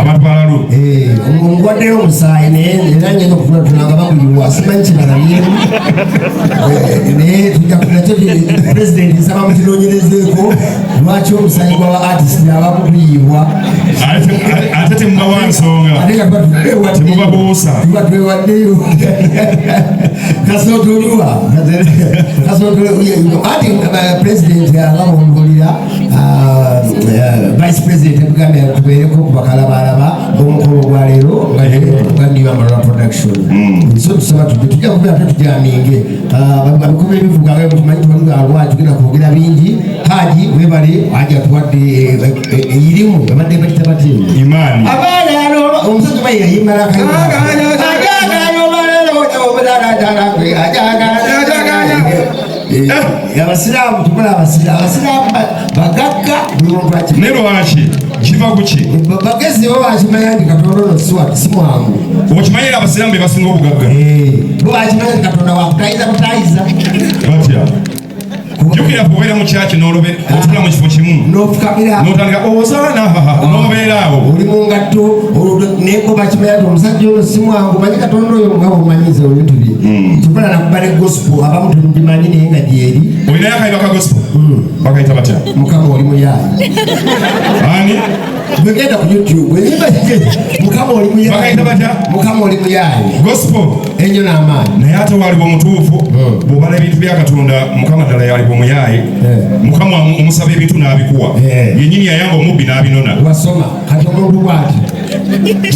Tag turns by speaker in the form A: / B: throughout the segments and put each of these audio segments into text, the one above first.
A: abatwalalo
B: ngwaddeyo
A: omusaayi naye era ngenda okufuna tulanga baguyiwa simanyi kyebalabyeemu naye tujja kunakyo pulezidenti nsaba mukinonyerezeeko lwaki omusaayi gwaba artist abamu guyiibwa
B: ate temubawa nsonga temubabuusa tuba twewaddeyo
A: kasootuliwa kasootuliwa ati pulezidenti alaba omubulira vice president ebuganda yatubeereko kubakalabalaba omukolo gwaleero nga negandiyo amalala production nsi otusaba tude tujja kubera te tujaminge babikuba ebivuga nga mutumanyi tubalugalwa tugenda kwogera bingi haji webale haji atuwadde eyirimu ebadde bakita bati abaana omusajja
B: bayeyayimala
A: ajagala obalala obalala ajagala Eh, abasiraamu tukola abasiraamu bagagga buli muntu aki naye
B: lwaki kiva kuki bagezi bo
A: bakimanya nti katonda ono siwatu si mwangu okimanyi era abasiraamu
B: be basinga obugagga eh, bo bakimanya
A: nti katonda wakutayiza butayiza
B: batya jukira kubeera mu kyaki n'olube otula mu kifo kimu n'ofukamira n'otandika
A: obusaana
B: n'obeera awo oli mu ngatto
A: naye bo bakimanya nti omusajja ono si mwangu manyi katonda oyo nga bwomanyiza ebintu bye hmm. kyokola nakuba ne gosipo abamu temugimanyi naye nga gyeri olinayo akayiba ka gosipo
B: hmm. bakayita batya mukama oli muyaayi
A: ani
B: Mwegenda
A: ku YouTube. Enyimba mukama oli muyaye. Bakaita batya? Mukama
B: oli muyaye.
A: Gospel. Enyo
B: na amani.
A: Naye ate waliwo
B: mutuufu. Hmm. Bw'obala ebintu bya Katonda mukama ddala yaliwo muyaye. Eh. Mukama omusaba ebintu n'abikuwa. Eh. Yennyini yayamba omubbi n'abinona. Wasoma kati
A: omuntu bw'ati.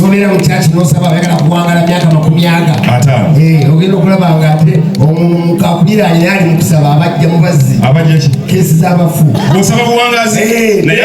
A: N'obeera mu kyaki n'osaba oyagala kuwangala myaka makumi aga. Ata. Eh, ogenda okulaba nga ate omuntu akulira alina ali mu kusaba abajja mu bazzi. Abajja ki? Keesi
B: z'abafu.
A: Bw'osaba buwangazi.
B: Eh. Naye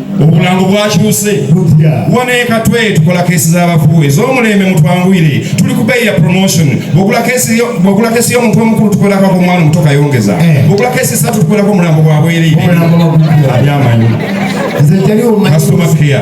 B: obulango bwakyuse wano ekatwe tukola kesi z'abafu ez'omulembe mutwanguyire tuli ku beeyi ya promotion bwogula kesi y'omuntu omukulu tukolakako omwana omuto kayongeza eh. bwogula kesi satu tukolako omulambo gwa bwereire abyamanyi kasitoma keya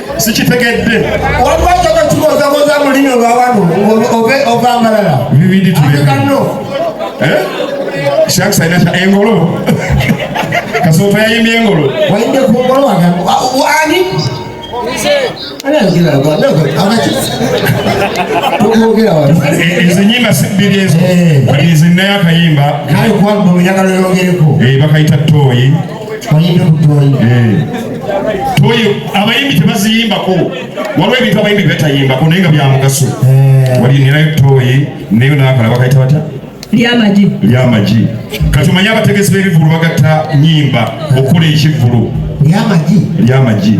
B: sikitegedde waliwo kyoka
A: kibozaboza mulimi olwawano ova amalala bibindi tubikanno eh?
B: shakisainata engolo kasooto yayimbye engolo wayinde ku ngolo
A: wange
B: ani ezo nyimba sibbiri ezo eh. zinnayo akayimba
A: bakayita tooyi
B: abayimbi tebaziyimbako waliwo ebintu abayimbi betayimbako naye nga byamugaso eh. wali ninayo toyi nayo nakala bakaita bata lyamagi lyamagi kati omanye abategesi b'ebivulu bagatta nyimba okukola ekivulu lyamagi lyamagi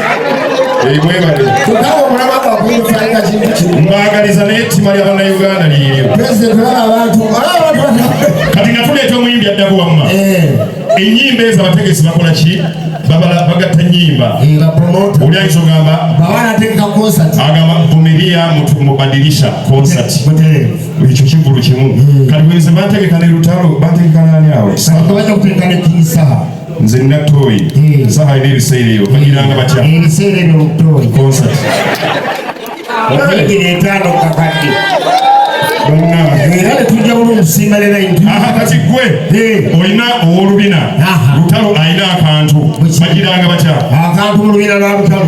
B: mbagaliza naye ettima lya bannayuganda lyeyo kati nga tuleeta omuyimbi addako wamma eh. enyimba ezo abategesi bakola ki bagatta nyimba eh, oli ayinza ogamba agamba vumiria mubadirisha concert ekyo kivulu kimu hmm. kati bwenze bantegeka ne lutalo bantegeka nani awo nze nina tooyi eh. saha ina ebiseera ebyo bagiranga batya eh, ebiseera ebyo tooyi concert okuyingira etaano kakadde era netujja bulu omusimba lera kati gwe eh. olina owolubina lutalo alina akantu bagiranga batya akantu mu lubina lwa
A: lutalo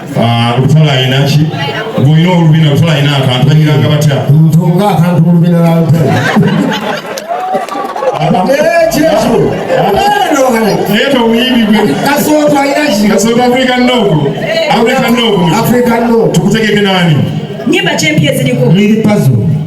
B: Ah, lutula alina ki gwolina olubina lutula alina akantu banyiranga batya ntunga akantu mu
A: lubina lwa
B: lutula tukutegeke nani nyimba kyempya
C: eziriko